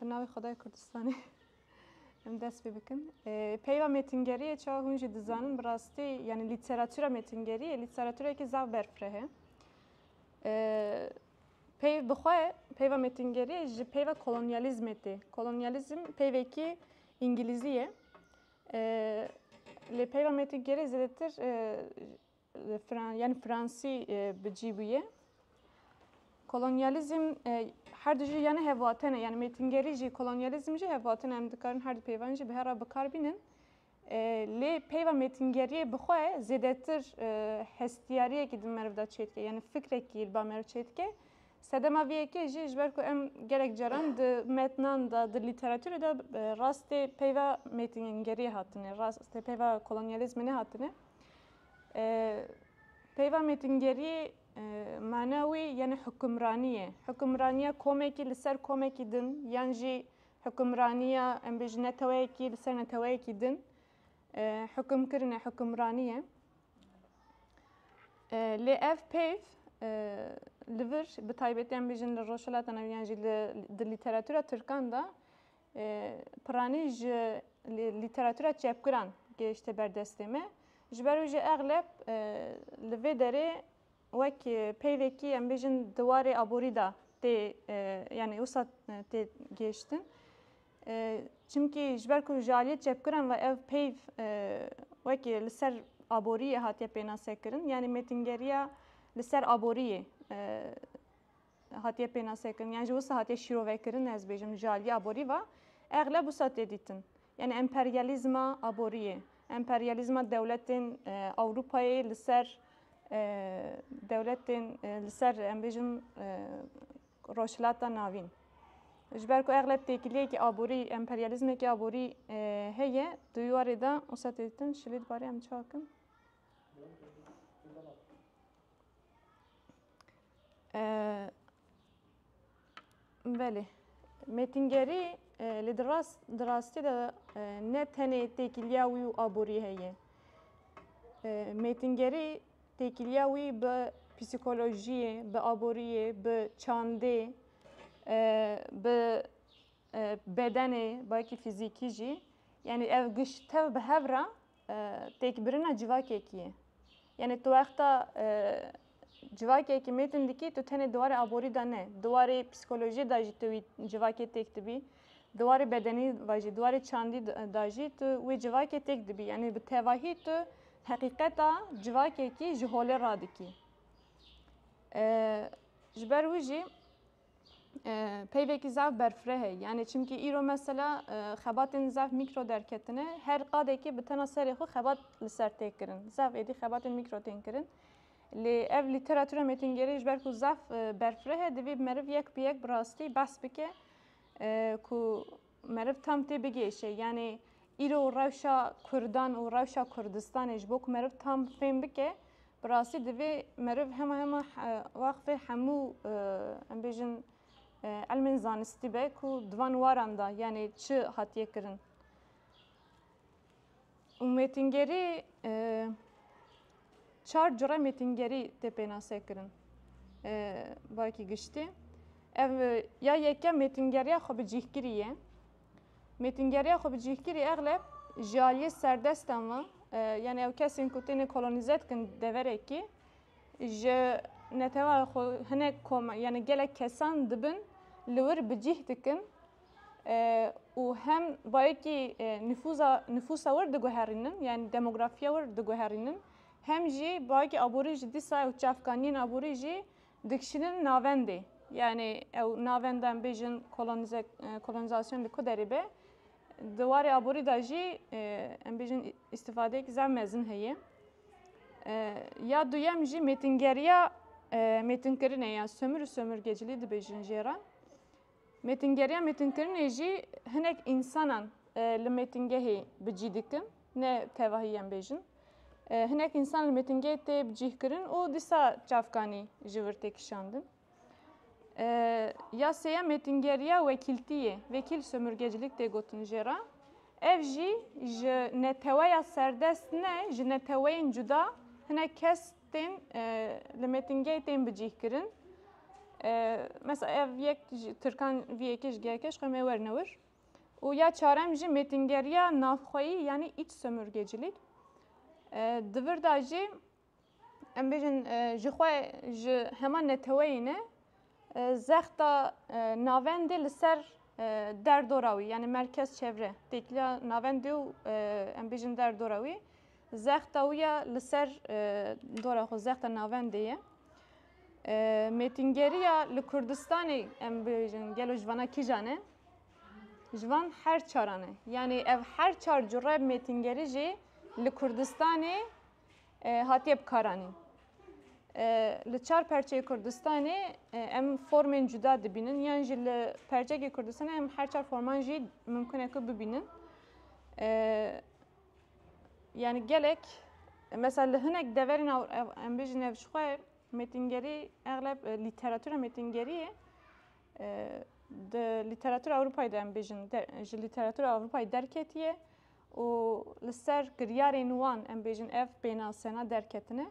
Bi navê Xwedayê Kurdistanê em dest pê bikin. Peyva mêtingeriyê çawa hûn jî dizanin bi rastî yanî lîteratûra mêtingeriyê lîteratûrekî zaf berfireh e. Peyv bi xwe peyva mêtingeriyê ji peyva kolonyalîzmê tê. Kolonyalîzm peyvekî îngilîzî ye. Lê peyva mêtingeriyê zêdetir yani Fransî bi cî bûye. Kolonyalizm her dijî yani hevatene yani mêtingerî jî kolonyalizm jî hevatene em dikarin her di peyvan jî bi her re bikar bînin. Lê peyva mêtingeriyê bi xwe zêdetir hestiyariyekî di meriv de çêdike yani fikrekî li ba meriv çêdike. Sedema vê yekê jî ji ber ku em gelek caran di metnan de di lîteratûrê de rastê peyva mêtingeriyê hatine, rastê peyva kolonyalizmê nehatine. Peyva mêtingeriyê mana wê yenê hukimranî ye. Hukimraniya komekî li ser komekî din yan jî hukimraniya em bêjin neteweyekî li ser neteweyekî din hukimkirine hukimranî ye. Lê ev peyv li vir bi taybetî em bêjin li Rojhilata Navî yan jî di lîteratûra Tirkan de Piranî ji lîteratûra çepgiran gehişte ber destê me. Ji ber wî jî exleb li vê derê wek peyvekî em bêjin di warê aborî de tê yanî wisa tê gihiştin. Çimkî ji ber ku ji aliyê çepgiran ve ev peyv wekî li ser aboriyê hatiye pênasekirin yanî mêtingeriya li ser aboriyê Hatiye pênasekirin yan ji wisa hatiye şîrovekirin ez bêjim ji aliyê aborî ve exleb wisa tê dîtin. Yani emperyalîzma aboriyê, emperyalîzma dewletên Ewropayê li ser dewletên li ser em bêjim Rojhilata Navîn. Ji ber ku exleb têkiliyekî aborî, emperyalîzmekî aborî heye di wî warê de wisa tê dîtin şilê di barê em çakin. Belê mêtingerî lê di rast di rastî de ne tenê têkiliya wî û aborî heye. Mêtingerî têkiliya wî bi psîkolojiyê, bi aboriyê, bi çandê, bi bedenê, belkî fîzîkî jî. Yanî ev giş tev bi hev re Têkbirina civakekî ye. Yanî tu wexta civakekî mêtin dikî tu tenê di warê aborî de ne, di warê psîkolojiyê de jî tu wî civakê têk dibî. Di warê bedenî ve jî, di warê çandî de jî tu wê civakê têk dibî. Yanî bi tevahî tu heqîqeta civakekî ji holê radikî. Ji ber wî jî. peyvekî zaf berfireh e. Yanê çimkî îro mesela xebatên zaf mîkro derketine. Her qadekî bi tena serê xwe xebat li ser tê kirin. Zaf êdî xebatên mîkro tên kirin. Lê ev lîteratura mêtingerê ji ber ku zaf berfireh e divê meriv yek bi yek bi rastî behs bike ku Meriv tam tê bigêşe yanê îro rewşa kurdan û rewşa Kurdistanê ji bo ku meriv tam fêm bike bi rastî divê meriv hema hema wexfê hemû em bêjin elmên zanistî be ku di van waran de yanê çi hatiye kirin. Û mêtingerî çar cure mêtingerî tê pênase kirin barekî giştî. Ev ya yekem mêtingeriya xwe bi cîhkirî ye. Mêtingeriya xwe bi cîhkirî exleb ji aliyê serdestan ve yani ew kesên ku têne kolonîze dikin deverekî ji netewa xwe hinek koma yani gelek kesan dibin li wir bi cîh dikin. û hem bayekî nifûza nifûsa wir diguherînin yani demografiya wir diguherînin hem jî bayekî aborî ji dîsa ew çavkaniyên aborî jî dikişînin navendê yani ew navenda em bêjin kolonize kolonizasyon li ku derê be di warê aborî da jî em bêjin îstîfadeyek zam mezin heye ya duyem jî mêtingeriya mêtinkirinê ya sömür û sömürgecilî dibêjin jê re Mêtingeriya mêtinkirinê jî hinek însanan li mêtingehê bi cî dikin, ne tevahî em bêjin. Hinek însan li mêtingehê tê bi cîh kirin û dîsa çavkanî ji vir tê kişandin. Ya sêyem mêtingeriya wekîltî yê, vekîl sömürgecilik tê gotin jê re. Ev jî ji neteweya serdest ne, ji neteweyên cuda hinek kes tên li mêtingê tên bicîhkirin. Mesela ev yek Tirkan vî yekê ji GHK'ê ji xwe mê werine wir. û ya çarem jî mêtingeriya navxweyî yanî îç sömürgecilîk. Di vir de jî em bêjin ji xwe ji hema neteweyî ne Zexta navendê li ser derdora wî yanî merkez çevre têkiliya navendê û em bêjin derdora wî zexta wî ya li ser dora xwe zexta navendê ye. Mêtingeriya li Kurdistanê em bêjin gelo ji vana kîjan e? Ji van her çaran e. Yanî ev her çar cure mêtingerî jî li Kurdistanê Hatiye bikaranîn. Li çar perçeyê Kurdistanê em formên cuda dibînin yan jî li percekê Kurdistanê em her çar forman jî mimkun e ku bibînin. Yani gelek mesela li hinek deverên em bêjin ev ji xwe metîngerî egleb lîteratura metîngeriyê di lîteratura Ewropayê de em bêjin ji lîteratura Ewropayê derketiye. Û li ser kiryarên wan em bêjin ev pênasena derketine.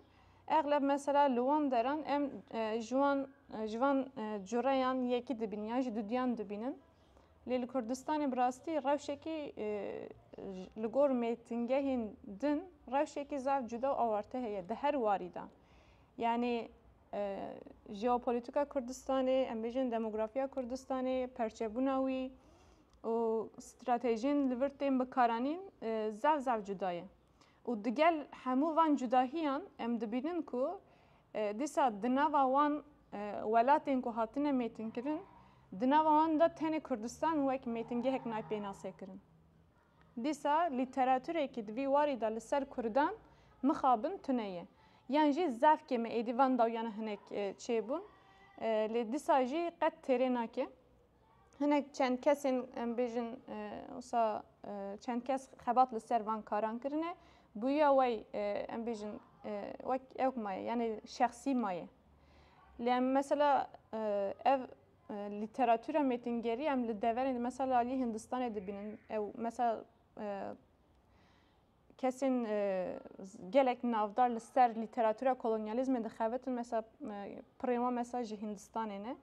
Exleb mesela li wan deran em ji wan ji van cureyan yekî dibînin yan jî duduyan dibînin. Lê li Kurdistanê bi rastî rewşekî li gor mêtingehên din rewşekî zaf cuda û awarte heye di her warî de. Yanî jeopolitika Kurdistanê, em bêjin demografiya Kurdistanê, perçebûna wî, û stratejiyên li vir tên bikaranîn zaf zaf cuda ye. Û digel hemû van cudahiyan em dibînin ku dîsa di nava wan welatên ku hatine mêtinkirin di nava wan de tenê Kurdistan wek mêtingehek nayê pênasekirin. Dîsa lîteraturêkî di vî warî de li ser Kurdan mixabin tune ye. Yan jî zaf kêm e êdî van dawiyan hinek çêbûn. Lê dîsa jî qet têrê nake. Hinek çend kesên em bêjin wisa çend kes xebat li ser van karan kirine. Bûya wey em bêjin wek ewk maye yani şexsî maye. Lê em mesela ev lîteratûra mêtingerî em li deverên mesela alî Hindistanê dibînin ew mesela Kesên gelek navdar li ser lîteratûra kolonyalîzmê dixebitin mesela pirên wan mesela ji Hîndistanê ne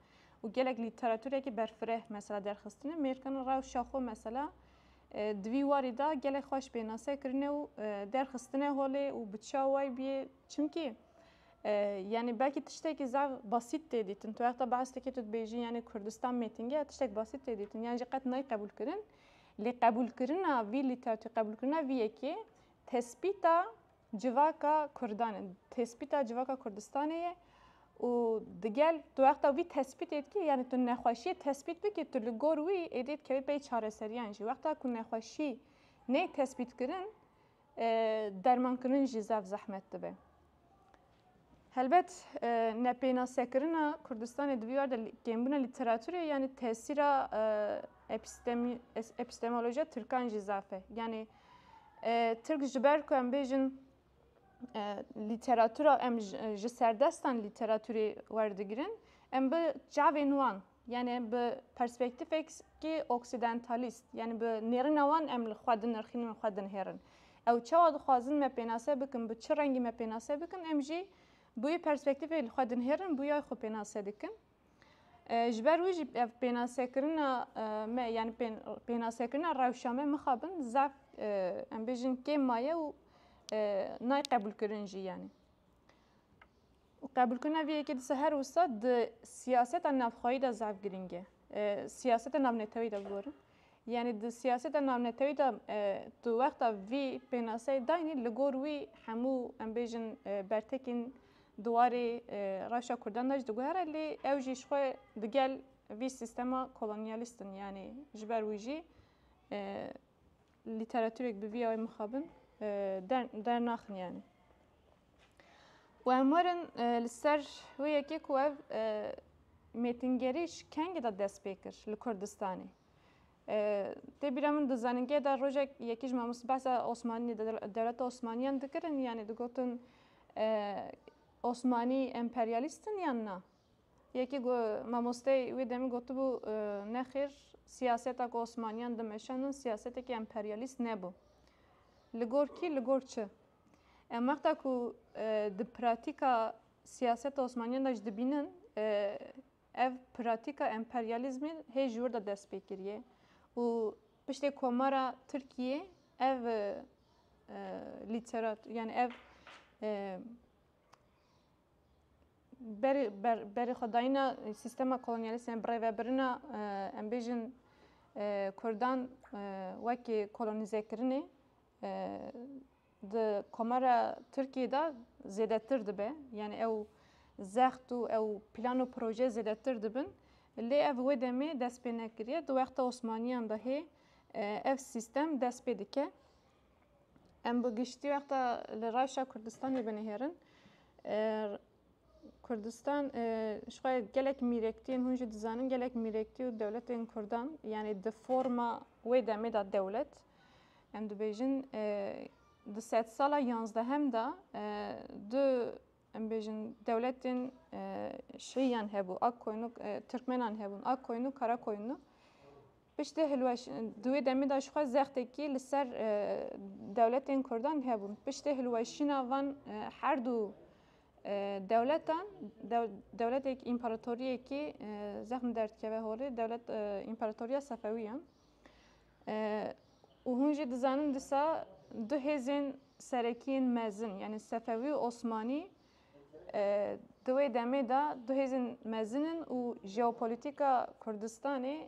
û gelek lîteratûrekî berfireh mesela derxistine mêrkana rewşa xwe mesela di vî warî de gelek xweş pênase kirine û derxistine holê û bi çawa way bîyê çimkî yanî belkî tiştekî zav basît tê dîtin tu wexta behs dikî tu dibêjî yanî Kurdistan mêtinge tiştek basît tê dîtin yan jî qet nayê qebûl kirin Lê qebûlkirina vî lîteratûrê, qebûlkirina vî yekê tespîta civaka kurdan e, tespîta civaka Kurdistanê ye û digel tu wexta vî tespîtê dikî yanî tu nexweşiyê tespît bikî tu li gor wî êdî dikevî pey çareseriyan jî. Wexta ku nexweşî neyê tespîtkirin Dermankirin jî zaf zehmet dibe. Helbet nepênasekirina Kurdistanê di vî war de kêmbûna lîteraturê yanî tesîra epistemolojiya tirkan jî zaf e. Yanî tirk ji ber ku em bêjin lîteratura em ji serdestan lîteraturê werdigirin em bi çavên wan Yanî bi perspektîfekî oksidentalîst, yanî bi nêrîna wan em li xwe dinirxînin û xwe dinihêrin. Ew çawa dixwazin me pênase bikin, bi çi rengî me pênase bikin, em jî bi wî perspektîfê li xwe dinihêrin, bi wî ayê xwe pênase dikin. Ji ber wî jî ev pênasekirina me yanî pênasekirina rewşa me mixabin zaf em bêjin kêm maye û nayê qebûlkirin jî yanî. Qebûlkirina vê yekê dise her wisa di siyaseta navxweyî de zaf girîng e. Siyaseta navnetewî de bigorin. Yanî di siyaseta navnetewî de tu wexta vî pênaseyê dayînî li gor wî hemû em bêjin bertekên di warê rewşa kurdan de jî diguhere lê ew jî ji xwe di gel vî sîstema kolonyalîst in. Yanî ji ber wî jî lîteratûrek bi vî awayî mixabin dernaxin yanî. û em werin li ser wê yekê ku ev mêtingerî ji kengê de dest pê kir li Kurdistanê. Tê bîra min di zanîngehê de rojek yekî ji mamoste behsa Osmanî dewleta Osmaniyan dikirin yanî digotin Osmanî emperyalîst in yan na. Yekî mamosteyê wê demê gotibû nexêr siyaseta ku Osmaniyan dimeşandin siyasetekî emperyalîst nebû. Li gor kî li gor çi? Em wexta ku di pratîka siyaseta Osmaniyan de jî dibînin ev pratîka emperyalîzmê hê ji wir de dest pê kiriye û piştê komara Tirkiyê ev lîterat yani ev berê xwedayîna sîstema kolonyalîst yan birêvebirina em bêjin Kurdan wekî kolonîzekirinê Di komara Tirkiyê de zêdetir dibe. Yani ew zext û ew plan û proje zêdetir dibin. Lê ev wê demê dest pê nekiriye. Di wexta Osmaniyan de hê ev sîstem dest pê dike. Em bi giştî wexta li Rayşa Kurdistanê binihêrin. Kurdistan ji xwe gelek mîrektiyên hûn jî dizanin gelek mîrektî û dewletên Kurdan yanê di forma wê demê de dewlet em dibêjin di sed sala yanzdehem de du em bêjin dewletên şiyan hebû ak koynû Tirkmenan hebûn ak koynû kara koynû Piştî hilweşîn di wê demê de jixwe zextekî li ser dewletên Kurdan hebû. Piştî hilweşîna van her du dewletan, dewletek împaratoriyekî zexm derdikeve holê, dewlet împaratoriya Sefewî ye. Û hûn jî dizanin disa du hêzên serekiyên mezin, yanî Sefewî û Osmanî Di wê demê de du hêzên mezin in û jeopolîtîka Kurdistanê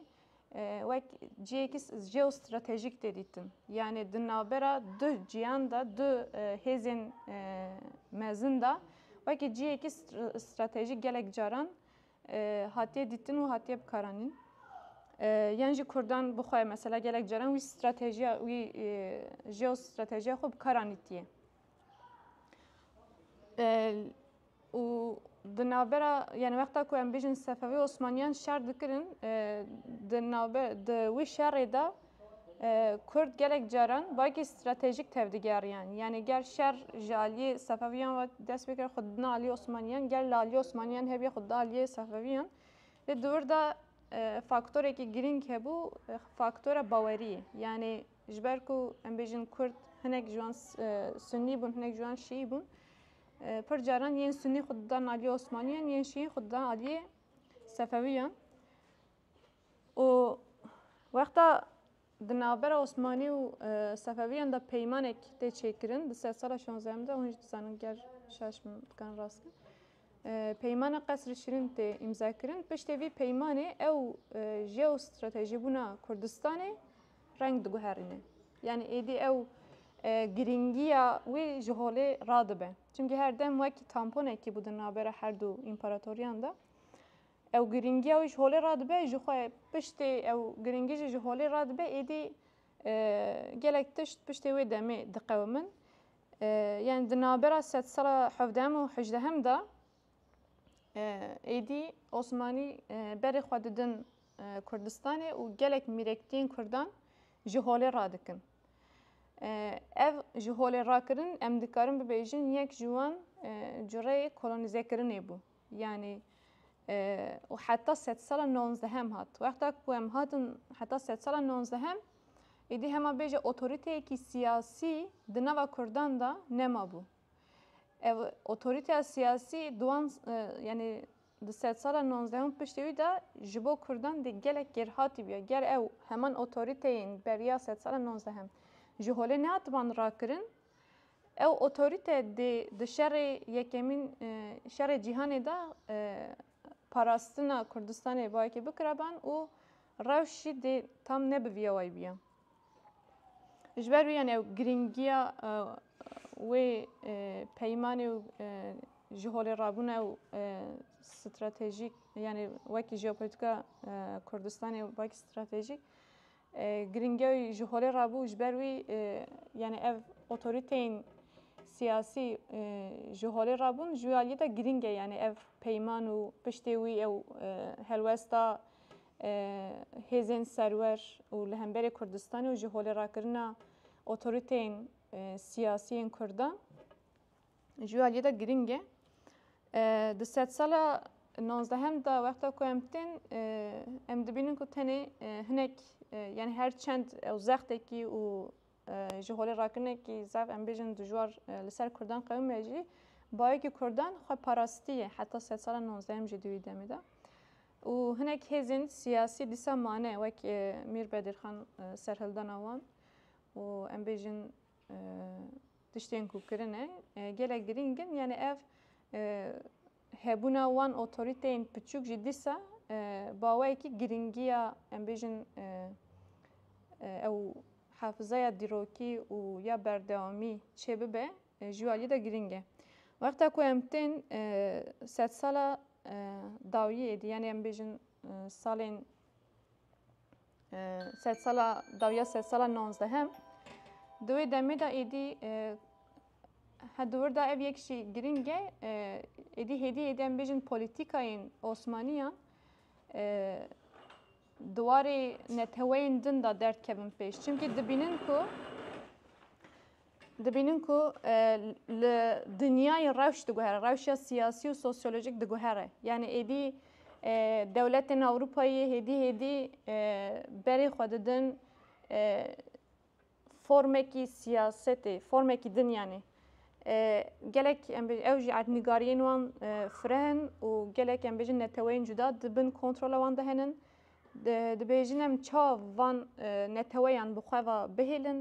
wek cihêkî jeostratejîk tê dîtin. Yanê di navbera du cihan de, du hêzên mezin de wekî cihêkî stratejîk gelek caran hatiye dîtin û hatiye bikaranîn. Yan jî Kurdan bi xwe mesela gelek caran wî stratejiya wî jeostratejiya xwe bikaranîtiye. û di navbera yani wexta ku em bêjin Sefewî û Osmaniyan şer dikirin di navber di wî şerê de Kurd gelek caran bayekî stratejîk tevdigeriyan yani ger şer ji aliyê Sefewiyan ve dest pê kir xwe didin aliyê Osmaniyan ger li aliyê Osmaniyan hebî xwe didin aliyê Sefewiyan lê di wir de faktorekî girîng hebû faktora baweriyê yani Ji ber ku em bêjin Kurd hinek ji wan Sunnî bûn, hinek ji wan Şiî bûn. Pir caran yên Sunnî xwe didan aliyê Osmaniyan, yên Şiî xwe didan aliyê Sefewiyan. û wexta di navbera Osmanî û Sefewiyan de peymanek tê çêkirin di ser sala şonzehemîn de hûn jî dizanin ger şaş min dikarin rast bin. Peymana qesri şirîn tê îmzakirin. Piştê vî peymanê ew jeostrateji bûna Kurdistanê reng diguherîne. Yanî êdî ew girîngiya wî ji holê radibe. Çimkî her dem wekî tamponekî bû di navbera her du împaratoriyan de. Ew girîngiya wî ji holê radibe ji xwe piştê ew girîngî jî ji holê radibe êdî gelek tişt piştê wê demê diqewimin. Yani di navbera sedsala hevdem û hejdehem de Êdî Osmanî berê xwe didin Kurdistanê û gelek mîrektiyên Kurdan ji holê radikin. Ev ji holê rakirin em dikarin bibêjin yek ji wan cureyê kolonîzekirinê bû. Yanî û heta sed sala nonzehem hat. Wexta ku em hatin heta sed sala nonzehem êdî hema bêje otorîteyekî siyasî di nava Kurdan de nemabû. Ev otorîteya siyasî di wan yanî di sedsala nonzdeh û piştî wî de ji bo kurdan dê gelek kêrhatî biya. Ger ew heman otorîteyên beriya sedsala nonzdeh ji holê nehatiban rakirin, ew otorîte dê di şerê yekemîn şerê cîhanê de parastina Kurdistanê bayekî bikiraban û rewş jî dê tam ne bi vî yawayî biya. Ji ber wî yani ew girîngiya wê peymanê û ji holê rabûna ew stratejîk yani wekî jeopolitika Kurdistanê û wekî stratejîk girîngiya wî ji holê rabû ji ber wî yani ev otorîteyên siyasî ji holê rabûn ji wî aliyê de girîng e yani ev peyman û piştê wî ew helwesta hêzên serwer û li hemberê Kurdistanê û ji holê rakirina otoriteyên siyasî yên Kurdan ji aliyê de giring e. Di sedsala nozdehem de wexta ku em tên em dibînin ku tenê hinek yani her çend ew zextekî û ji holê rakirinekî zaf em bêjin dijwar li ser Kurdan qewime jî bayekî Kurdan xwe parastiye heta sedsala nozdehem jî di wî demê de. Û hinek hêzên siyasî dîsa mane wek Mîr Bedîrxan serhildana wan û em bêjin tiştên ku kirine gelek girîng in yanî ev hebûna wan otorîteyên piçûk jî dîsa baweyekî girîngiya em bêjin ew hafizaya dîrokî û ya berdewamî çêbibe. Ji aliyê de girîng e. Wexta ku em tên sedsala dawiyê dî yanî em bêjin salên sedsala dawiya sedsala nonzdehem di wê demê de êdî he di wir de ev yek jî girîng e êdî hêdî êdî em bêjin polîtîkayên osmaniyan di warê neteweyên din de derdkevin pêş. Çimkî dibînin ku Dibînin ku li dinyayê rewş diguhere, rewşa siyasî û sosyolojîk diguhere. Yanî êdî dewletên Ewropayê hêdî hêdî berê xwe didin formekî siyasetê, formekî din yanî. Gelek em bêjin ew jî erdnîgariyên wan fireh in û gelek em bêjin neteweyên cuda di bin kontrola wan de henin. Dibêjin em çav van neteweyan bi xwe ve bihêlin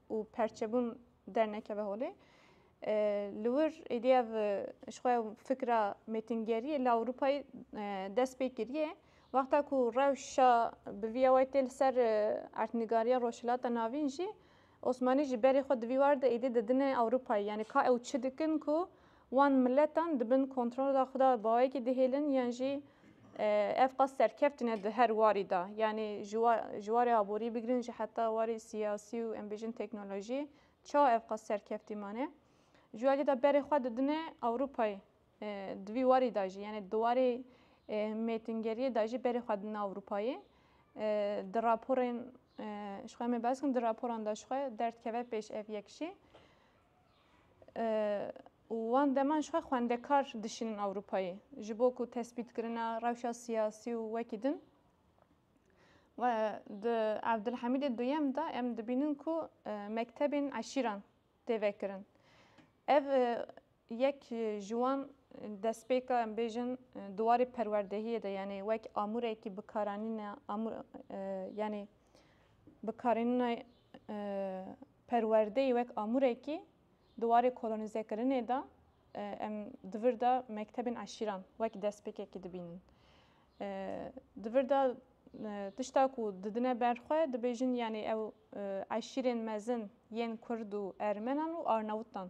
û perçebûn dernekeve holê. Li wir êdî ev ji xwe fikra mêtingeriyê li Ewropayê dest pê kiriye. Wexta ku rewşa bi vî awayê tê li ser erdnigariya Rojhilata Navîn jî Osmanî jî berê xwe di vî war de êdî didine Ewropayê. Yanî ka ew çi dikin ku wan miletan di bin kontrola xwe de bawekî dihêlin yan jî ev qas serkevtî ne di her warî de. Yanî ji warê aborî bigirin jî heta warê siyasî û em bêjin teknolojî, çawa ev qas serkevtî mane? Ji alî de berê xwe didine Ewropayê. Di vî warî de jî yanî di warê mêtingeriyê de jî berê xwe dina Ewropayê. Di raporên ji xwe em ê behs kirin di raporan de ji xwe derdkeve pêş ev yek jî. û wan deman ji xwe xwendekar dişînin Ewropayê ji bo ku tespîtkirina rewşa siyasî û wekî din di Evdilhemîdê duyem de em dibînin ku mektebên eşîran têve kirin. Ev yek ji wan destpêka em bêjin di warê perwerdehiyê de yanî wek amûrekî bikaranîna amûr yanî bikaranîna perwerdeyê wek amûrekî di warê kolonîzekirinê de em di vir de mektebên eşîran wek destpêkekî dibînin. Di vir de tişta ku didine ber xwe dibêjin yanî ew eşîrên mezin yên kurd û ermenan û arnewtan.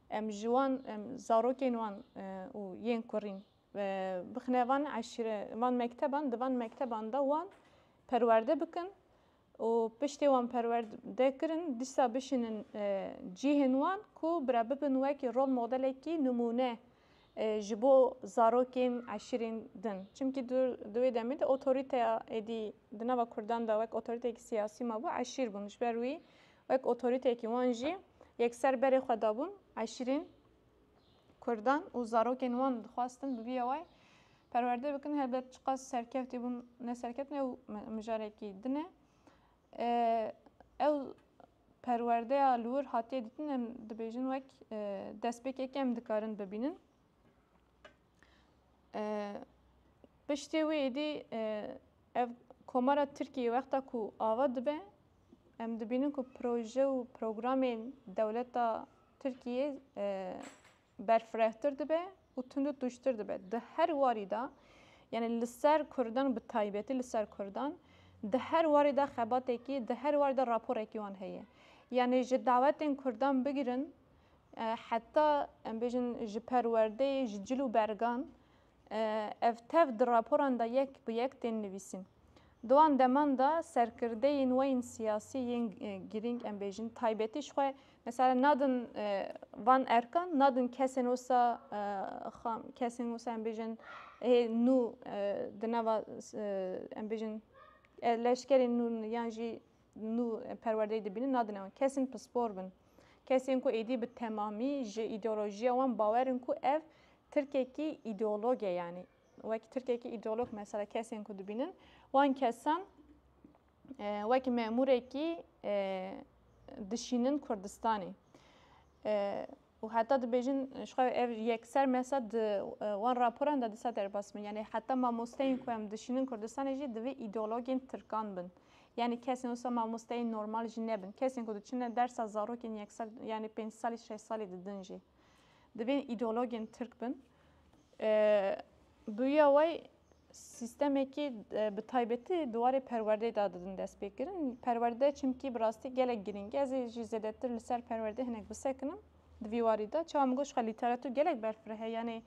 Em ji wan em zarokên wan û yên kurîn bixine van eşîre van mekteban di van mekteban de wan perwerde bikin û piştê wan perwerde kirin dîsa bişînin cîhên wan ku bira bibin wekî rol modelekî nimûne ji bo zarokên eşîrên din. Çimkî di wê demê de otorîteya êdî di nava kurdan de wek otorîteyekî siyasî mabû eşîr bûn. Ji ber wî wek otorîteyekî wan jî yekser berê xwe dabûn eşîrên. Kurdan û zarokên wan dixwastin bi vî awayî perwerde bikin, helbet çiqas serkevtî bûn ne serkevtin ew mijarekî din e. Ew perwerdeya li wir hatiye dîtin em dibêjin wek destpêkekê em dikarin bibînin. Piştî wî êdî Ev Komara Tirkiyê wexta ku ava dibe, em dibînin ku proje û programên dewleta Tirkiyê berfirehtir dibe û tundu tûjtir dibe. Di her warî de, yanî li ser Kurdan bi taybetî li ser Kurdan, di her warî de xebatekî, di her warî de raporekî wan heye. Yanî ji dawetên Kurdan bigirin heta em bêjin ji perwerdeyê, ji cil û bergan, Ev tev di raporan de yek bi yek tên nivîsîn. Di wan deman de serkirdeyên we yên siyasî yên girîng em bêjin taybetî ji xwe mesela nadin van erkan nadin kesên wisa kesên wisa em bêjin hê nû di nava em bêjin leşkerên nû yan jî nû perwerdeyê dibînin nadine wan. Kesên pispor bin. Kesên ku êdî bi temamî ji îdeolojiya wan bawer in ku ev Tirkekî îdeolog e yanî. Wekî Tirkekî îdeolog mesela kesên ku dibînin wan kesan wekî memûrekî dişînin Kurdistanê. Û heta dibêjin ji xwe ev yekser me sed di wan raporan de di sed derbas bin. Yanî heta mamosteyên ku em dişînin Kurdistanê jî divê îdeologên tirkan bin. Yanî kesên wisa mamosteyên normal jî nebin. Kesên ku diçine dersa zarokên yek sal yanî pênc salî şeş salî didin jî divên îdeologên tirk bin. Bûya wê sîstemekî bi taybetî di warê perwerdeyê de didin destpêkirin. Perwerde çimkî bi rastî gelek girîng e. Ez ê jî zêdetir li ser perwerdê hinek bisekinim di vî warî de. Çawa min got jixwe lîteratûr gelek berfireh e yanê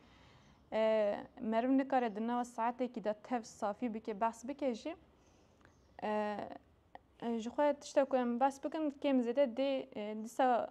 meriv nikare di nava saetekî de tev safî bike behs bike jî jixwe tiştek ku em behs bikin kêm zêde dê dîsa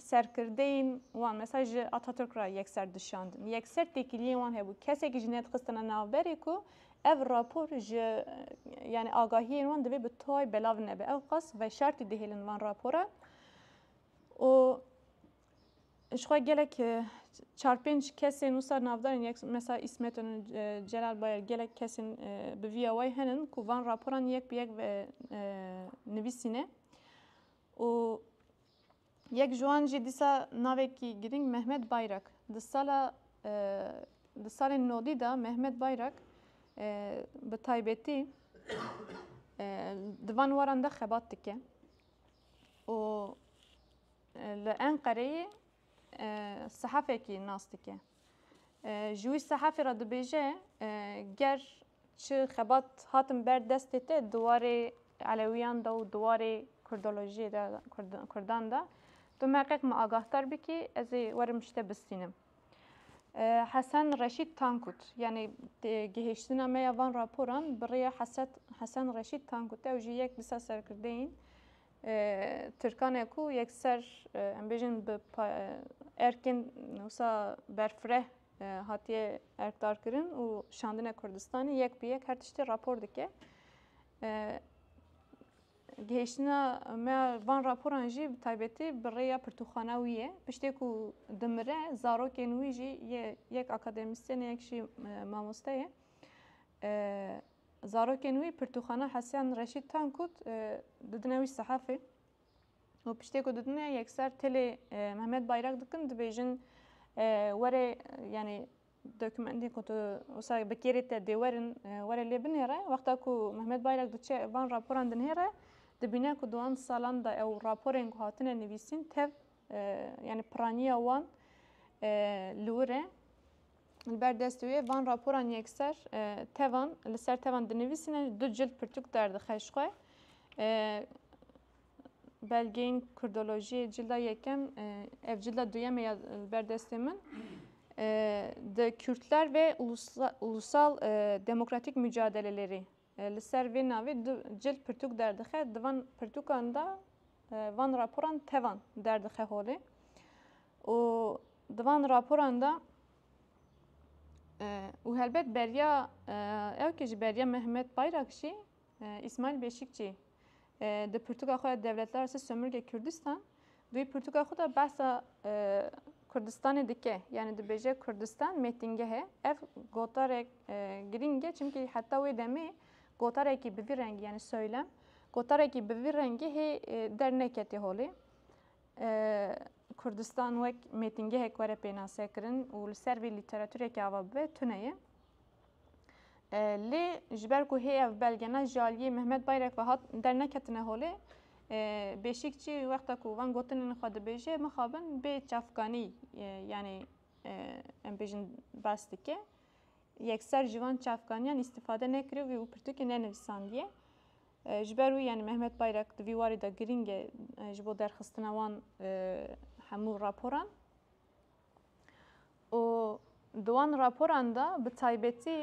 Serkirdeyên wan mesa ji Atatürk re yekser dişandin. Yekser têkiliyên wan hebû. Kesekî jî nedixistine navberê ku ev rapor ji yanî agahiyên wan divê bi tay belav nebe. Ew qas veşartî dihêlin van rapora û jixwe gelek çar pênc kesên wisa navdarên yek mesa İsmet Önü, Celal Bayar gelek kesên bi vîya way henin ku van raporan yek bi yek ve nivîsîne. û yek ji wan jî dîsa navekî girîng Mehmet Bayrak di sala di salên nodî de Mehmet Bayrak bi taybetî di van waran de xebat dike û li Enqereyê sehafekî nas dike ji wî sehafê re dibêje ger Çi xebat hatin ber destê te di warê Elewiyan de û di warê Kurdolojiyê de, Kurdan de, tu me qeq min agahdar bikî, ez ê werim ji te bistînim. Hesen Reşîd Tankut, yanî gihêştina me ya van raporan bi rê ya Hesen Reşîd Tankut e, ew jî yek li ser serkirdeyên Tirkan e ku yekser em bêjin bi erkên wisa berfireh Hatiye erkdarkirin û şandine Kurdistanê yek bi yek her tiştê rapor dike. Gihêştina me van raporan jî bi taybetî bi rêya pirtûxana wî ye. Piştê ku dimire zarokên wî jî yek akademîsyen yek jî mamoste ye. Zarokên wî pirtûxana Hesyan Reşîd Tankut didine wî sehefê. û piştê ku didine yekser tilê Mehmet Bayrak dikin dibêjin were yanî dokumentên ku tu wisa bi kêrê te dê werin were lê binêre wexta ku Mehmet Bayrak diçe van raporan dinêre dibîne ku duwan salan da ew raporên ku hatine nivîsîn tev yanî piraniya wan li wir e. Li ber destê wê van raporan yekser tevan li ser tevan dinivîsîne, du cild pirtûk derdixe ji xwe. Belgeyên kurdolojiyê cilda yekem ev cilda duyem ya li ber destê min di Kürtler ve ulusal demokratîk mücadeleleri Li ser vê navê du cil pirtûk derdixe, di van pirtûkan de van raporan tevan derdixe holê û di van raporan de û helbet beriya ew kê ji beriya Mehmet Bayrakçî, Îsmaîl Beşîkçî Di pirtûka xwe ya Devletler arası sömürge Kürdistan duyî pirtûka xwe de behsa Kurdistanê dike. Yani dibêje Kurdistan mêtingehe. Ev gotarek girîng e çimkî heta wê demê gotarekî bi vî rengî yani söylem gotarekî bi vî rengî hê derneketê holê. Kurdistan wek mêtingehek were pênasekirin û li ser vê lîteratureke ava bibe tune ye. Lê ji ber ku hê ev belge ne ji aliyê Mehmet Bayrek ve hat derneketine holê, Bêşîkçî wexta ku van gotinên xwe dibêje mixabin bê çavkanî yanî em bêjin bas dike. Yekser ji van çavkaniyan îstîfade nekirivî û pirtûkê nenivîsandiye. Ji ber wî yanî Mehmet Bayrek di vî warî de girîng e ji bo derxistina wan hemû raporan. û di wan raporan de bi taybetî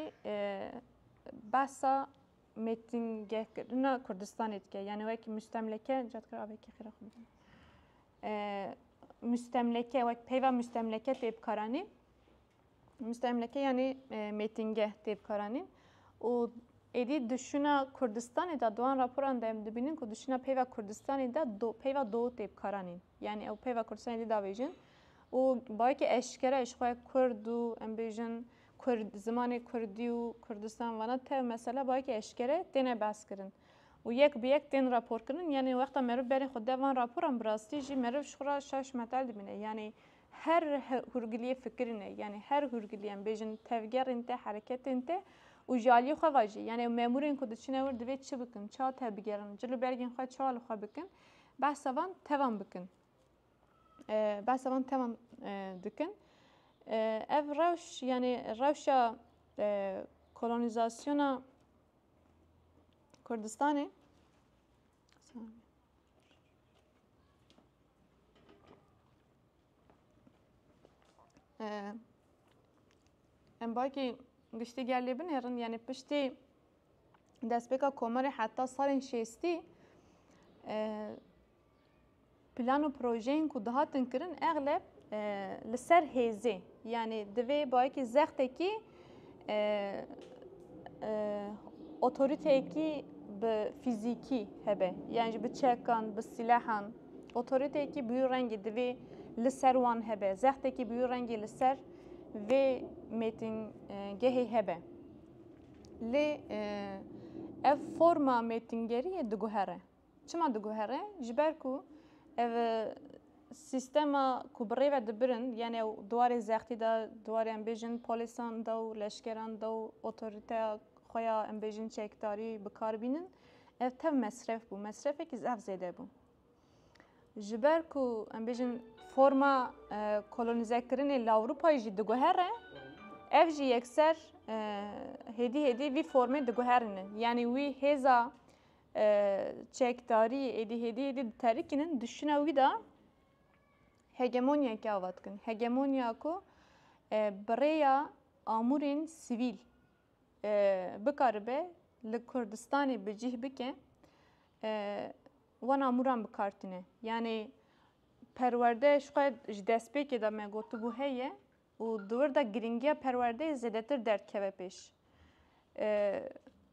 behsa mêtingehkirina Kurdistanê dike. Yanî wek mustemleke cadkir avekî xêra xwe bidin. Mustemleke wek peyva mustemleke tê bikaranî. Mustemleke yanî mêtingeh tê bikaranî û êdî duşuna Kurdistanê de doan raporan de em dibînin ku duşuna peyva Kurdistanê de peyva do tê bikaranîn. Yanî ew peyva Kurdistanê dî davêjin û bayekî eşkere ji xwe Kurd û em bêjin Kurd zimanê Kurdî û Kurdistan vana tev mesela bayekî eşkere têne behskirin û yek bi yek tên raporkirin yanî wexta meriv berê xwe de van raporan bi rastî jî meriv ji xwe re şaş metel dibîne yanî her hûrgiliyê fikirî ne yanî her hûrgiliyê em bêjin tevgerên te hereketên te û ji aliyê xwe ve jî yanî memûrên ku diçine wir divê çi bikin ça tevbigerin cil û bergên xwe ça li xwe bikin Behsa van tevan bikin. Behsa van tevan dikin. Ev rewş yani rewşa kolonizasyona Kurdistanê Em bakî giştî gelê binêrin yani piştî Destpêka komarê heta salên şêstî plan û projeyên ku dihatin kirin egleb li ser hêzê yanî divê bayekî zextekî otoriteyekî bi fîzîkî hebe yan ji bi çekan bi sîlehan otoriteyekî bûyî rengî divê li ser wan hebe zextekî bûyî rengî li ser vê mêtingehê hebe. Lê ev forma mêtingeriyê diguhere. Çima diguhere? Ji ber ku ev sîstema ku bi rêve dibirin yani ew di warê zextî de di warê em bêjin polisan de û leşkeran de û otorîteya xwe ya em bêjin çekdarî bi kar bînin ev tev mesref bû. Mesrefekî zaf zêde bû. Ji ber ku em bêjin forma e, kolonizekirinê li Ewropayê jî diguhere, ev jî yekser e, hêdî hêdî vî formê diguherînin. Yanî wî hêza e, çekdarî êdî hêdî hêdî diterikînin, dişina wî de hegemonyayekî ava dikin. Hegemonya ku e, bi rêya amûrên sivîl e, bikaribe li Kurdistanê bi cih bike. E, Wan amûran bi kar tîne. Yanî perwerde ji xwe ji destpêkê de me gotibû heye û di wir de girîngiya perwerdeyê zêdetir derdikeve pêş.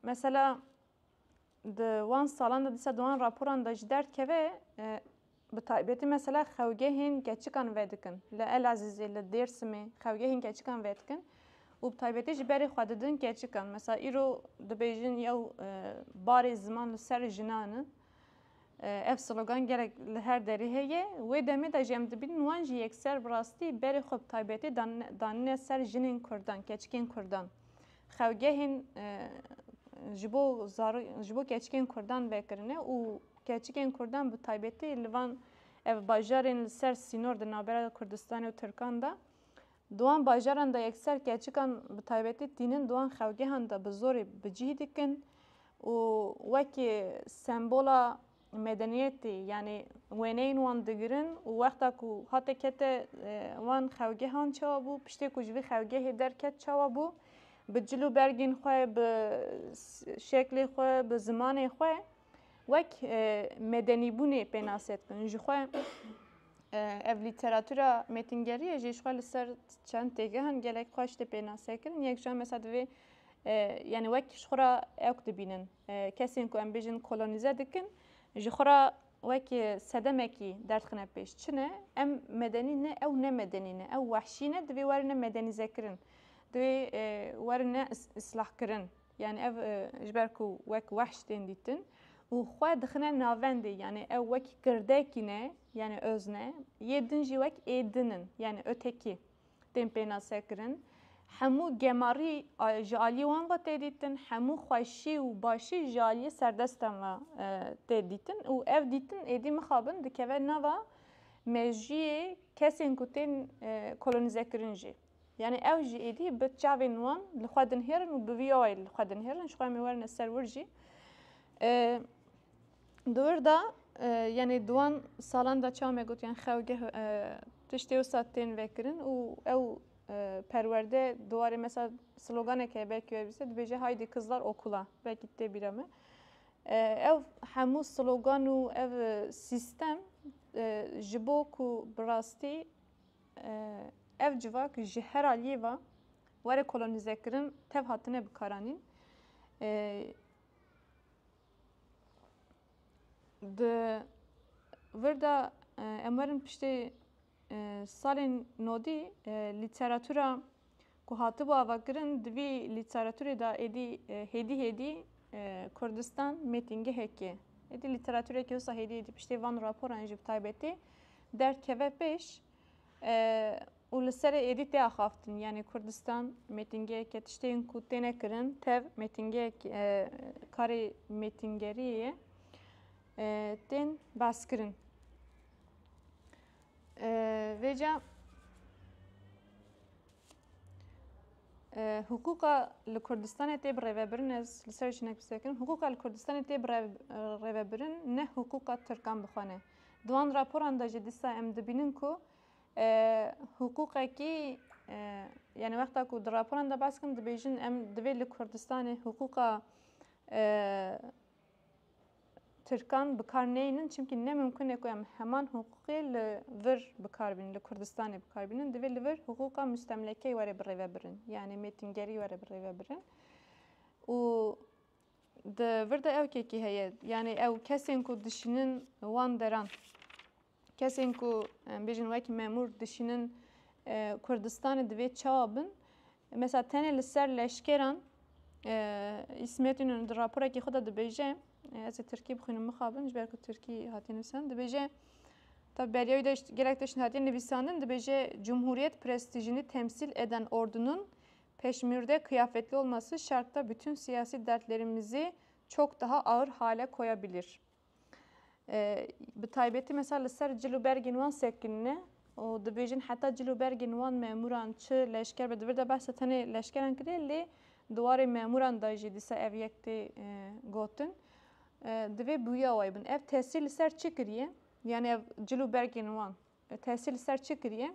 Mesela di wan salan de dîsa di wan raporan de jî derdikeve bi taybetî mesela xewgehên keçikan vedikin. Li Elazizê, li Dêrsimê xewgehên keçikan vedikin. Û bi taybetî ji berê xwe didin keçikan. Mesa îro dibêjin yew barê ziman li ser jinan in. Ev slogan gelek li her derê heye. Wê demê de jî em dibînin wan jî yekser bi rastî berê xwe bi taybetî danine ser jinên kurdan, keçikên kurdan. Xewgehên ji bo ji bo keçikên kurdan vekirine û keçikên kurdan bi taybetî li van ev bajarên li ser sînor di navbera Kurdistanê û Tirkan de Di wan bajaran de yekser keçikan bi taybetî tînin di wan xewgehan de bi zorê bi cih dikin û wekî sembola medeniyetê yanî wêneyên wan digirin û wexta ku hate kete wan xewgehan çawa bû, piştê ku ji vî xewgehê derket çawa bû, bi cil û bergên xwe, bi şeklê xwe, bi zimanê xwe. wek medenîbûnê pênase dikin. Ji xwe ev lîteratûra mêtingeriyê jî ji xwe li ser çend têgehan gelek xweş tê pênase kirin. Yek ji mesela divê yani wek ji xwe ra ewk dibînin. Kesên ku em bêjin kolonîze dikin ji xwe ra wek sedemekî derdixine pêş. Çi ne? Em medenî ne, ew ne medenî ne, ew wehşî ne, divê werin ne medenîzekirin. Divê werin ne islahkirin. Yanî ev ji ber ku wek wehş tên dîtin û xwe dixine navendê yanî ew wek kirdekî ne yanî öz ne, yê din jî wek ê din in yanî öteki tên pênasekirin. Hemû gemarî ji aliyê wan ve tê dîtin, hemû xweşî û başî ji aliyê serdestan ve tê dîtin û ev dîtin êdî mixabin dikeve nava mejiyê kesên ku tên kolonîzekirin jî. Yanî ew jî êdî bi çavên wan li xwe dinihêrin û bi vî awayî li xwe dinihêrin ji xwe em ê werine ser wir jî di wir de yanî di wan salan de çawa me gotiyan xewgeh tiştê wisa tên vekirin û ew perwerde di warê mesela sloganek heye belkî wê bîse dibêje haydî kizlar okula belkî tê bîra me ew hemû slogan û ev sîstem ji bo ku bi rastî Ev civak ji her aliyê ve were kolonîzekirin tev hatine bikaranîn. Di vir de em werin piştê salên nodî lîteratura ku hatibû avakirin di vî lîteraturê de êdî hêdî hêdî Kurdistan mêtingehek e. Êdî lîteratureke wisa hêdî hêdî piştê van raporan jî bi taybetî derdkeve pêş û li serê êdî tê axaftin yanî Kurdistan mêtingeheke tiştên ku têne kirin tev mêtingehek karê mêtingeriyê ye tên baskirin. Vêca hiqûqa li Kurdistanê tê birêvebirin ez li ser jinek bisekirim hiqûqa li Kurdistanê tê birêvebirin ne hiqûqa Tirkan bixwe ne. Di wan raporan de jî dîsa em dibînin ku hiqûqekî yani wexta ku di raporan de baskin dibêjin em divê li Kurdistanê hiqûqa Tirkan bi kar neynin çimkî ne mimkun e ku em heman hiqûqê li vir bi kar bînin, li Kurdistanê bi kar bînin. Divê li vir hiqûqa mustemlekeyê were bi rêve birin. Yanê mêtingerî were bi rêve birin. Û di vir de ewkekî heye. Yanê ew kesên ku dişînin wan deran. Kesên ku em bêjin wek memûr dişînin Kurdistanê divê çawa bin? Mesela tenê li ser leşkeran İsmet İnönü di raporekê xwe de dibêje ez ê Tirkî bixwînim mixabin ji ber ku Tirkî hatiye nivîsan dibêje Tabi beriya wî de gelek tişt hatiye nivîsandin dibêje Cumhuriyet prestijini temsil eden ordunun peşmürde kıyafetli olması şarkta bütün siyasi dertlerimizi çok daha ağır hale koyabilir. Bi taybetî mesela li ser cil û bergên wan sekinine û dibêjin heta cil û bergên wan memûran çi leşker be di vir de behsa tenê leşkeran kiriye lê di warê memûran de jî dîsa ev yek tê gotin. Divê bûya wayî bin. Ev tesîr li ser çi kiriye? Yani ev cil û bergên wan tesîr li ser çi kiriye?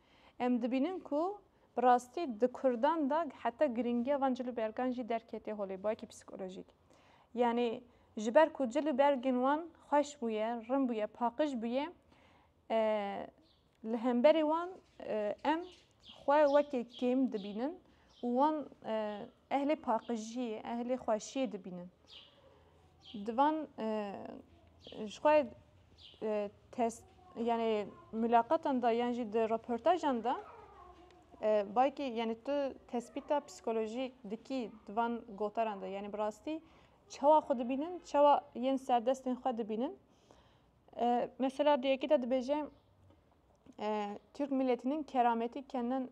Em dibînin ku bi rastî di kurdan de heta girîngiya van cil û bergan jî derketê holê bawekî psîkolojîk. Yanî ji ber ku cil û bergên wan xweş bûye, rin bûye, paqij bûye li hemberê wan em xwe wekî kêm dibînin û wan ehlê paqijiyê, ehlê xweşiyê dibînin. Di van ji xwe test yanê mulaqatan de yan jî di reportajan de baykî yanê tu tespîta psîkolojîk dikî di van gotaran de yanê bi rastî çawa xwe dibînin çawa yên serdestên xwe dibînin mesela di yekê de dibêje Türk milletinin kerametî kendin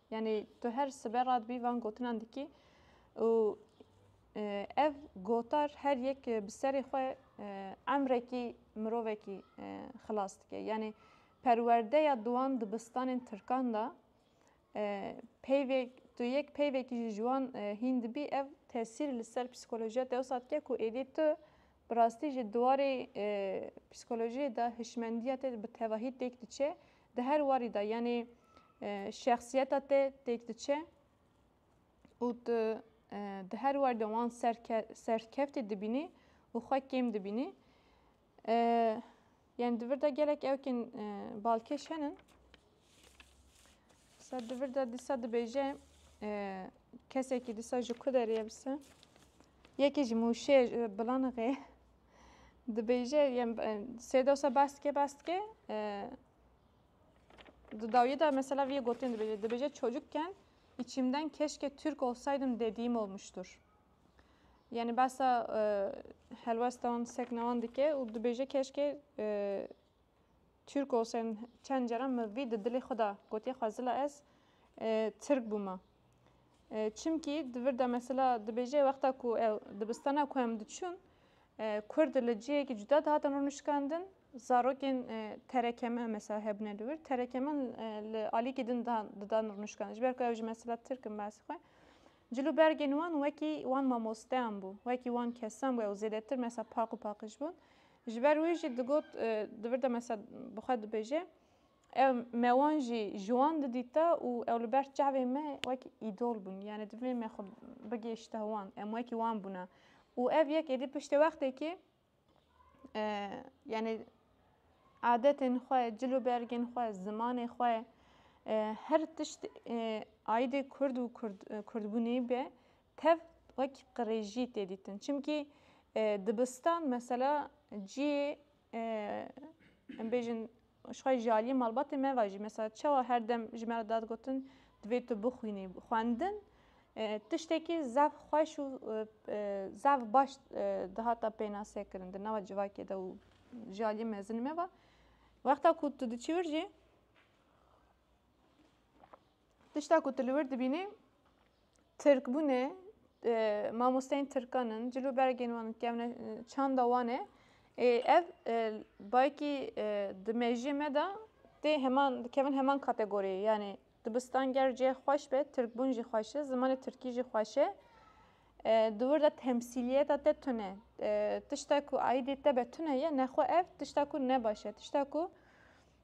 Yanî tu her sibe radibî van gotinan dikî û ev gotar her yek bi serê xwe emrekî mirovekî xilas dike. Yanî perwerdeya diwan dibistanên Tirkan da peyvek tu yek peyvekî ji jiwan hîn dibî ev tesîr li ser psîkolojiya te wisa dike ku êdî tu bi rastî ji diwarê psîkolojiyê de hişmendiya te bi tevahî têk diçe di her warî de yanê şexsiyeta te têk diçe û tu di her warî de wan serkeftê dibînî û xwe kêm dibînî. Yani di vir de gelek ewkên balkêş henin. Sa di vir de dîsa dibêje kesekî dîsa ji ku derê ye bise. Yekê ji mûşê bilana xê. Dibêje yem sê dewsa bas dike bas dike di dawiye de mesela vî gotin dibêje dibêje çocukken içimden keşke Türk olsaydım dediğim olmuştur. Yani basa e, helwestan seknawan dike û dibêje keşke e, Türk olsaydım çend caran min vî di dilê xwe de gotiye xwezila ez e, Tirk bûma. Çimkî di vir de mesela dibêje wexta ku ew dibistana ku em diçûn Kurd li cihekî cuda dihatin rûnişkandin. Zarokên terekeme mesela hebûne li wir. Terekemen li alîkî din didan rûnişkandin. Ji ber ku ew ji mesela Tirk in behsê xwe. Cil û bergên wan wekî wan mamosteyan bû. Wekî wan kesan bû ew zêdetir mesela paq û paqij bûn. Ji ber wî jî digot di vir de mesela bi xwe dibêje. Ev me wan jî ji wan didîta û ew li ber çavên me wek îdol bûn. Yanî divê me xwe bigihîşte wan, em wekî wan bûna. Û ev yek êdî piştê wextêkê yanî adetên xwe, cil û bergên xwe, zimanê xwe, her tişt aîdê Kurd û Kurdbûnê be tev wek qirêjî tê dîtin. Çimkî dibistan mesela ciyê em bêjin ji xwe ji aliyê malbatê me ve jî mesela çawa her dem ji me re dad gotin divê tu bixwînî xwendin tiştekî zaf xweş û zaf baş dihata pênase kirin di nava civakê de û ji aliyê mezin me ve wexta ku tu diçî wir jî Tişta ku tu li wir dibînî Tirkbûnê mamosteyên Tirkan in, cil û bergên wan in kevne çanda wan e. Ev bayekî di mejiyê me de tê heman dikevin heman kategoriyê. Yani dibistan ger cihê xweş be, Tirkbûn jî xweş e, zimanê Tirkî jî xweş e. Di wir de temsîliyeta te tune. Tişta ku aîdê te be tune ye, nexwe ev tişta ku ne baş e. Tişta ku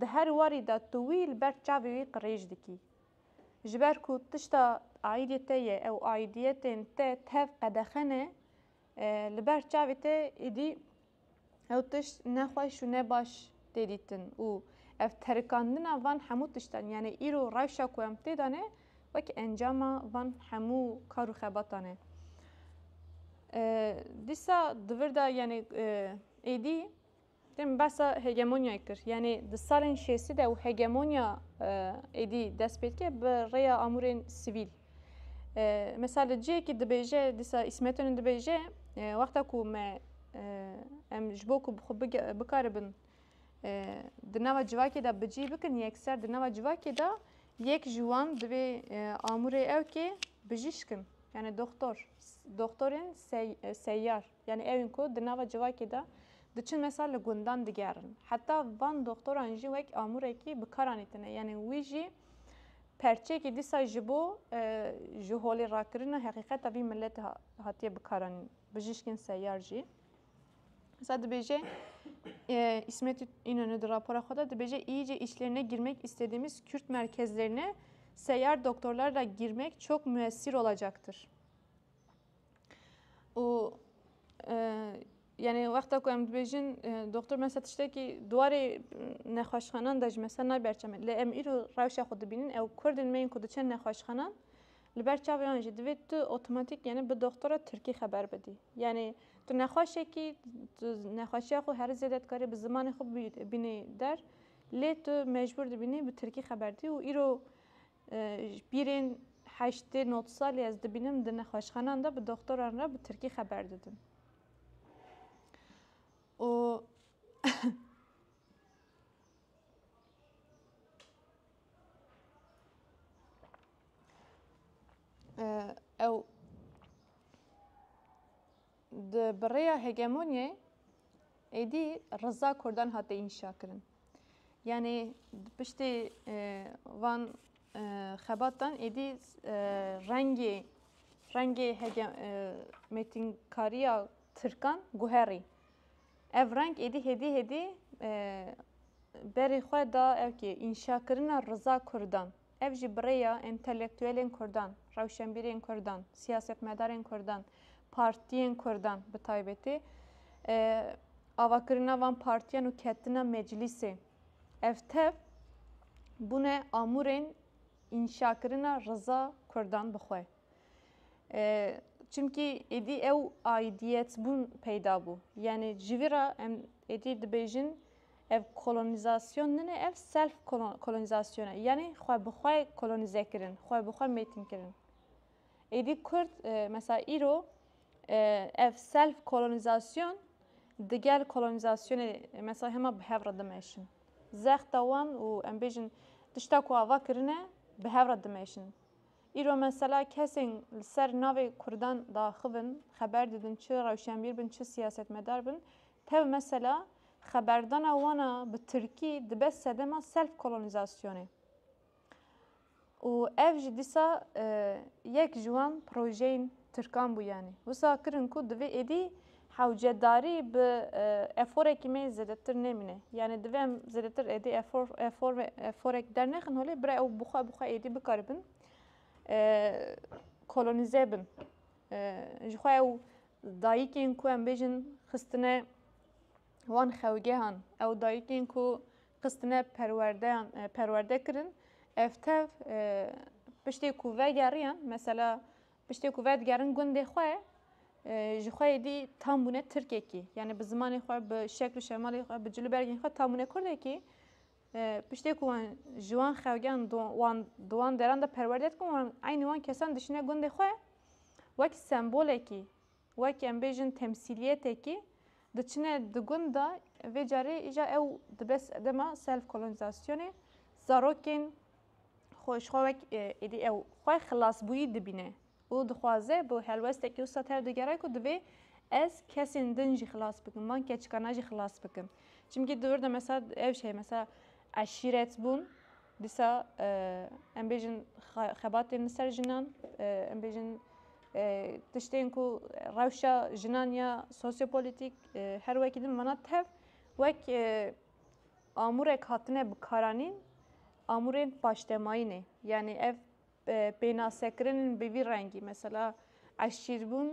Di her warî de tu wî li ber çavê wî qirêj dikî. Ji ber ku tişta aîdî te ye ew aîdîyetên te tev qedexe ne, li ber çavê te êdî ew tişt ne xweş û ne baş tê dîtin û ev terikandina van hemû tiştan yanî îro rewşa ku em tê de ne wek encama van hemû kar û xebatan e. Dîsa di vir de yanî êdî Dê min behsa hegemonyayê kir. Yanê di salên şêstî de û hegemonya êdî dest pê dike bi rêya amûrên sivîl. Mesela li cihekî dibêje dîsa îsmetonên dibêje wexta ku me em ji bo ku xwe bikaribin di nava civakê de bicî bikin yekser di nava civakê de yek ji wan divê amûrê ew kê bijîşkin yani doktor doktorên seyyar Yanî ew in ku di nava civakê de diçin mesa li gundan digerin. Heta van doxtoran jî wek amûrekî bi kar anîtine. Yanî wî jî perçeyekî dîsa ji bo ji holê rakirina heqîqeta vî miletê hatiye bi kar anîn. Bijîşkên seyar jî Mesela dibêje İsmet İnönü di rapora xwe de dibêje iyice içlerine girmek istediğimiz Kürt merkezlerine seyyar doktorlarla girmek çok müessir olacaktır. û yanî wexta ku em dibêjin doktor me ser tiştekî dwarê nexweşxanan de ji me ser nayê berçame lê em îro rewşa xwe dibînin ew kurdên me yên ku diçin nexweşxanan li ber çav wan jî divê tu otomatîk yanî bi doktora tirkî xeber bidî yanî tu nexweşekî tu nexweşiya xwe herî zêde dikarî bi zimanê xwe bînî der lê tu mecbûr dibînî bi tirkî xeber dî û îro Ji pîrên heştê not salî ez dibînim di nexweşxanan de bi doxtoran re bi tirkî xeber didin. û ew Di bi rêya hegemonyayê êdî riza Kurdan hate înşakirin. Yanê di piştê e, van e, xebatan êdî e, rengê rengê hege, e, mêtinkariya Tirkan guherî. Ev reng êdî hêdî hêdî e, berê xwe da ew kê înşakirina riza Kurdan. Ev jî bi rêya entelektuelên kurdan, rewşenbîrên kurdan, siyasetmedarên kurdan, partiyên kurdan bi taybetî, avakirina van partiyan û ketina meclîsê ev tev bûne amûrên înşakirina riza kurdan bi xwe. Çimkî êdî ew aîdiyetbûn peyda bû. Yanî ji vî re em êdî dibêjin Ev kolonîzasyon nine, ev self kolonîzasyon e, yanî xwe bi xwe kolonîze kirin, xwe bi xwe mêtin kirin. Êdî Kurd mesela îro ev self kolonîzasyon digel kolonîzasyonê mesela hema bi hev re dimeşin. Zexta wan û em bêjin tişta ku ava kirine bi hev re dimeşin. Îro mesela kesên li ser navê Kurdan de axivin, xeber didin çi rewşenbîr bin, çi siyasetmedar bin, Tev mesela xeberdana wan a bi tirkî dibe sedema self-kolonîzasyonê û ev jî dîsa yek ji wan projeyên tirkan bû yanî wisa kirin ku divê êdî hewcedarî bi eforekî me zêdetir nemîne yanî divê em zêdetir êdî efor efor eforek dernexin holê bira ew bi xwe bi xwe êdî bikaribin kolonîze bin. ji xwe ew dayikên ku em bêjin xistine wan xewgehan ew dayikên ku xistine perwerdeyan perwerde kirin ev tev piştê ku vegeriyan mesela piştê ku vedigerin gundê xwe ji xwe dî tam bûne tirkekî yani bi zimanê xwe bi şekl û şemalê xwe bi cilûbergên xwe tam bûne kurdekî Piştê ku wan ji wan xewgiyan wan di wan deran de perwerde dikin wan eynî wan kesan dişîne gundê xwe wek sembolekî wek em bêjin temsîliyetekî diçine di gund de vê carê îja ew dibe sedema self kolonizasyonê zarokên xwe ji xwe wek êdî ew xwe xilasbûyî dibîne. Û dixwaze bi helwestekî wisa tev digere ku divê ez kesên din jî xilas bikim, van keçikana jî xilas bikim. Çimkî di wir de mesela ev jî heye mesela eşîret bûn, dîsa em bêjin xebatên li ser jinan, em bêjin tiştên ku rewşa jinan ya sosyopolîtîk her wekî din vana tev wek amûrek hatine bikaranîn amûrên paştemayî ne. Yanî ev Pênasekirin bi vî rengî mesela eşşîrbûn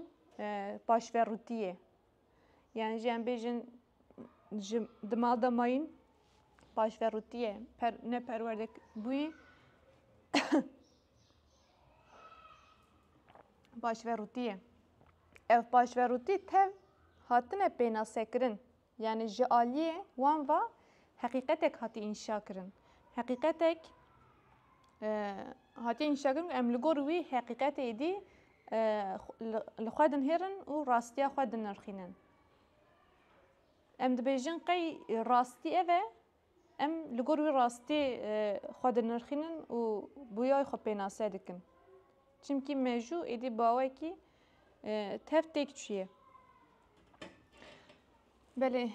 paşverûtî ye. Yan jî em bêjin ji di mal de mayîn paşverûtî ye ne perwerde bûyî paşverûtî ye. Ev paşverûtî tev hatine pênasekirin. Yanî ji aliyê wan ve heqîqetek hatî înşa kirin. Heqîqetek hatî înşa kirin ku em li gor wî heqîqetê êdî li xwe dinihêrin û rastiya xwe dinirxînin. Em dibêjin qey rastî ev e Em li gor wî rastî xwe dinirxînin û bûyayê xwe pênase dikin. Çimkî mejû êdî bawekî tev têk çûye. Belê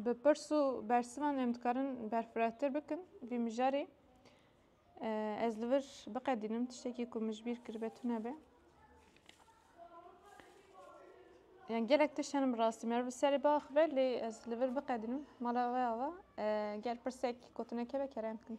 bi pirs û bersivan em dikarin berfirehtir bikin vî mijarê. Ez li vir biqedînim tiştekî ku min ji bîr kiribe tune be. Yani gelek tiştenim bi rastî me bi serê bax ve lê ez li vir biqedînim mala we ava gel pirsek gotineke ve kerem bikin.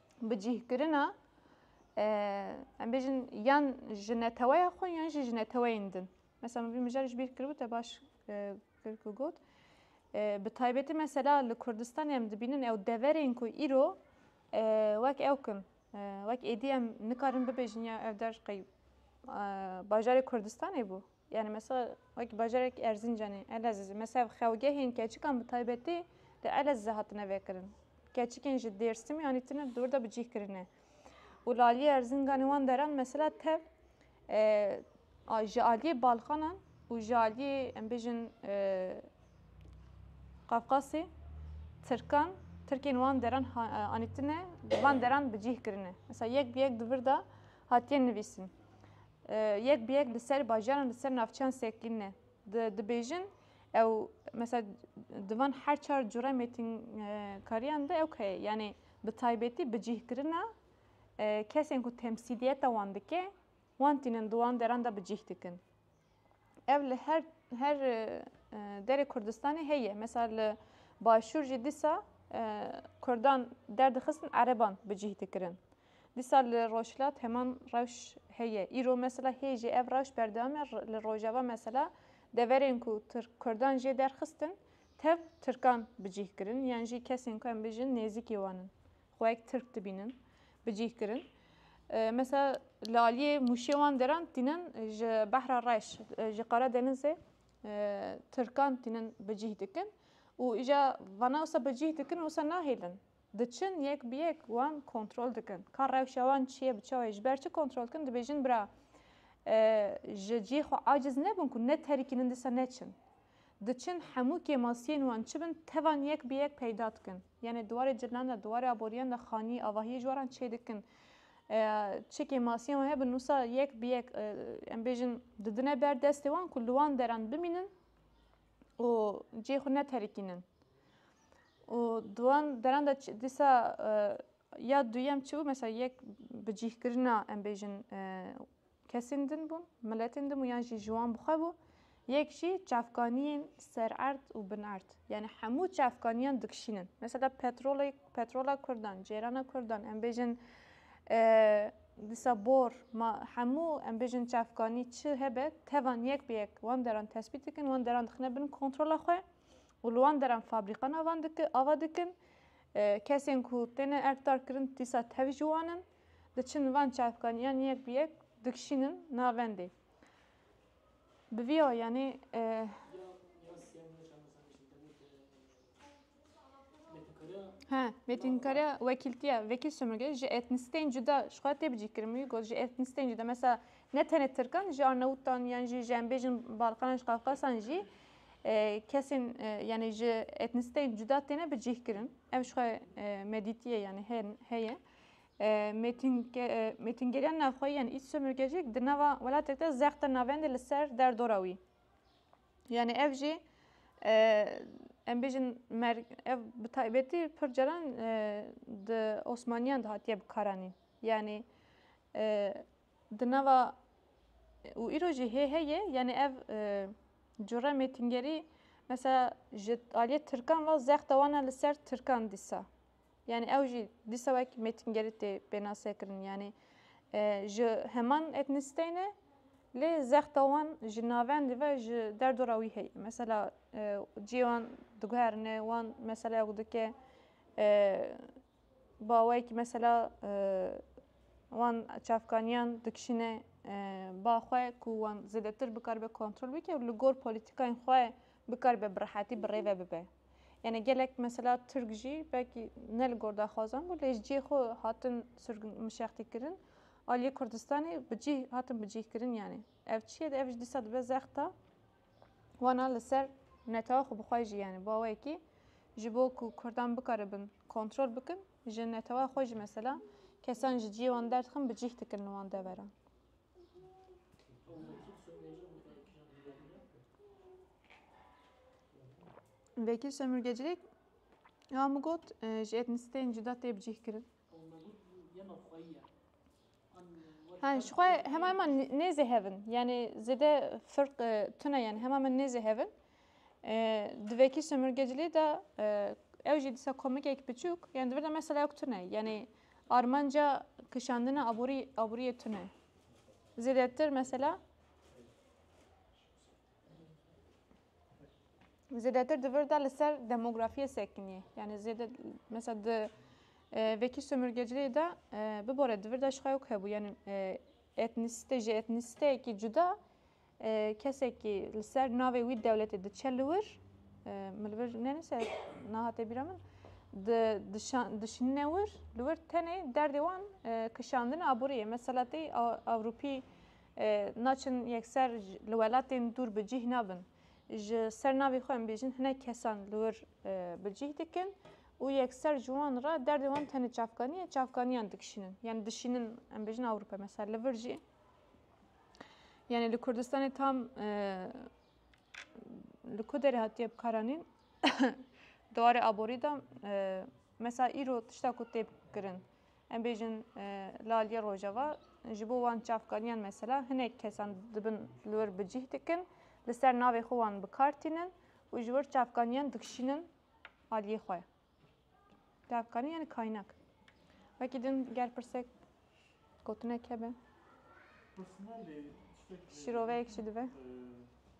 bicîhkirina em bêjin yan ji neteweya xwe yan jî ji neteweyên din. Mesela min vî mijar ji bîr kiribû te baş kir ku got. Bi taybetî mesela li Kurdistanê em dibînin ew deverên ku îro wek ew kin. Wek êdî em nikarin bibêjin ya ev der qey bajarê Kurdistanê bû. Yanî mesela wek bajarek Erzincanê, Elezizê, mesela xewgehên keçikan bi taybetî li Elezizê hatine vekirin. Keçikên ji Dêrsimê anîtine dor de bi cih kirine. Û li aliyê Erzincanê wan deran mesela tev ji aliyê Balkanan û ji aliyê em bêjin Qafqasê Tirkan, Tirkên wan deran anîtine li van deran bi cih kirine. Mesela yek bi yek di vir de hatiye nivîsin. Yek bi yek li ser bajar an li ser navçeyan sekîne. Di dibêjin ew mesela di van her çar cure mêtinkariyan de ew heye. Yanê bi taybetî bi cîhkirina kesên ku temsîliyeta wan dike wan tînin di wan deran de bi cîh dikin. Ev li her her derê Kurdistanê heye. Mesela li başûr jî dîsa Kurdan derdixistin ereban bi cîh dikirin. Dîsa li Rojhilat heman rewş heye. Îro mesela hê jî ev rewş berdewam e. Li Rojava mesela deverên ku Tirk Kurdan jê derxistin tev Tirkan bi cih kirin yan jî kesên ku em bijin nêzîkî wan in xwe wek Tirk dibînin bi cih kirin. Mesela li aliyê Mûşê wan deran tînin ji Behra Reş ji Qara Denizê Tirkan tînin bi cih dikin û îja vana wisa bi cih dikin wisa nahêlin. Diçin yek bi yek wan kontrol dikin. Ka rewşa wan çi ye bi çawê ji ber çi kontrol dikin dibêjin bira ji cihê xwe aciz nebin ku ne terikînin disa ne çin. Diçin hemû kêmasiyên wan çi bin tevan yek bi yek peyda dikin. Yanê di warê cilinan de di warê aboriyan de xanî avahiyê ji waran çê dikin. Çi kêmasiyên wan hebin wisa yek bi yek em bêjin didine ber destê wan ku li wan deran bimînin û cihê xwe ne terikînin. û di wan deran de dîsa ya duyem çi bû mesela yek bi cîhkirina em bêjin e, kesên din bûn, miletên din bû yan jî ji wan bixwe bû. Yek jî çavkaniyên sererd û binerd. Yani hemû çavkaniyan dikişînin. Mesela petrolê petrola Kurdan, cêrana Kurdan em bêjin e, dîsa bor ma hemû em bêjin çavkanî çi hebe tevan yek bi yek wan deran tespît dikin, wan deran dixine bin kontrola xwe. û li wan deran fabrîka navan ava dikin, kesên ku têne erkdarkirin dîsa tev ji wan in, diçin van çavkaniyan yek bi yek dikişînin navendê. Bi vî awiyanê. Mêtînkariya wekîltiya vekîl sömurgeyî ji etnîsîteyên cuda ji xwe tê bicîkirin. Min wî got ji etnîsîteyên cuda mesela ne tenê tirkan ji arnewtan yan jî ji em bêjin balkanan ji qafqasan jî Kesên yanî ji etnisîteyên cuda têne bi cih kirin. Ev ji xwe medîtiyê yanî heye. Mêtingeriya navxweyî yan îç sömürgecîk di nava welatek de zexta navendê li ser derdora wî. Yanî ev jî em bêjin ev bi taybetî pir caran di Osmaniyan de hatiye bikaranîn. Yanî Di nava û îro jî hê heye yanî ev cure mêtingerî mesela ji aliyê tirkan ve zexta wan e li ser tirkan dîsa. Yanî ew jî dîsa wek mêtingerî tê pênasekirin yanî ji heman etnîsteyê ne lê zexta wan ji navendî ve ji derdora wî heye. Mesela ciyê wan diguherine wan meseleyek dike Bi awayekî mesela wan çavkaniyan dikişîne ba xwe ku wan zêdetir bikaribe kontrol bike û li gor polîtîkayên xwe bikaribe bi rehetî bi rêve bibe. Yanê gelek mesela Tirk jî belkî ne li gor daxwazan bû lê ji cihê xwe hatin mişextîkirin aliyê Kurdistanê bi cih hatin bi cihkirin yanê ev çi ye ev jî dîsa dibe zexta Wana li ser netewa xwe bi xwe jî yani bawekî ji bo ku Kurdan bikaribin kontrol bikin ji netewa xwe jî mesela kesan ji ciyê wan derdixin bi cîh dikin li wan devera. Vekîl Şemurgecilêk ya min got ji etnisîteyên cuda tê bicîhkirin. An ji xwe hema me nêzêhevin yanê zêde firq tune yan hema me nêzêhevin di vekî sömürge cilê de ew jî disa komikek biçûk yan di vir de mesela yok tune yanê armanca kişandina aborî aboriyê tune zêdetir mesela Zêdetir di vir de li ser demografiyê sekinî. Yani zêde mesela di vekî sömürgeciliğê de bibore di vir de şixayok hebû. Yani etnisite ji etnisiteyekî cuda kesekî li ser navê wî dewletê diçe li wir min li vir nenise nahate bîra min dişinine wir li wir tenê derdê wan kişandina aboriyê. Mesela tê Ewropî Naçin yekser li welatên dûr bi cîh nabin. Ji ser navê xwe em bêjin hinek kesan li wir bi cîh dikin û yekser ji wan re derdê wan tenê çavkanî ye, çavkanîyan dikişînin. Yanî dişînin em bêjin Ewropa mesela li vir jî yanî li Kurdistanê tam li ku derê hatiye bikaranîn di warê aborî de mesela îro tişta ku tê kirin Em bêjin la aliyê Rojava ji bo wan çavkaniyan mesela hinek kesan dibin li wir bi cih dikin, li ser navê xwe wan bi kar tînin û ji wir çavkaniyan dikişînin aliyê xwe. Çavkani yani kaynak. Wekî din ger pirsek gotinek hebe. Şiroveyek jî dibe.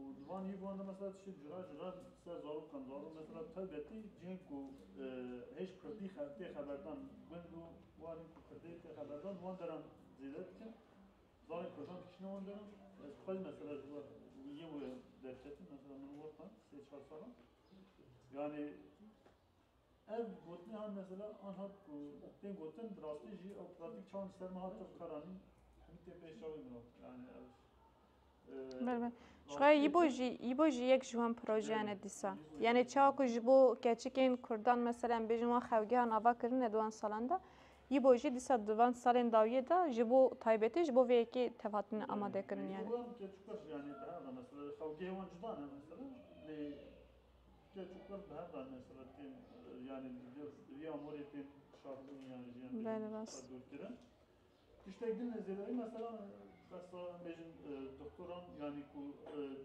Û di van hîvan de mesela tiştên cure ji rev ser zarokan daro. Mesela tev betî cihên ku hêj kurdî tê xeberdan gund û warên ku kurdî tê xeberdan di wan deran zêde dikin. Zarên kurdan dikişîne wan deran. Ez xwe jî mesela ji wan wî yên wê derketim. Mesela min wextan sê çar sal e. Yanî Ev gotinê an mesela an hat ku tên gotin bi rastî jî ew pratîk çawa li ser min hat ev kar anîn hemî tên pêş çavê min hat yanî ev Ber ber. Ji xwe yî bo jî yî bo jî yek ji wan projeyan e dîsa. Yanî çawa ku ji bo keçikên kurdan mesela em bêjin wan xewgehan ava kirine di wan salan de yî bo jî dîsa di van salên dawiyê de ji bo taybetî ji bo vê yekê tev hatine amadekirin yanî. Wan keçûk e jî yanî bi hev e mesela xewgehê wan cuda ne mesela lê Keç û qir bi hev re nesibit tên, yanî ji vê rûspêvîya morê tên kişandin û yanî ji yan bêjin re dûrkirin. Tiştek din li zêdayî meselan besa em bêjin doktoran yanî ku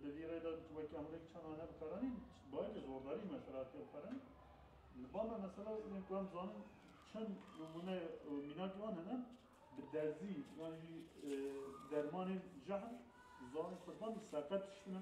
di vî rê de tu wekî amûrek çanda ne bikaranîn bi ayîkê zordarî mesela tê xwerin. Li ba me mesela yên ku em dizanin çend nimûne û mînakê wan hene bi derzî yan jî dermanên jehr di ziwanê kurdan seqet tiştine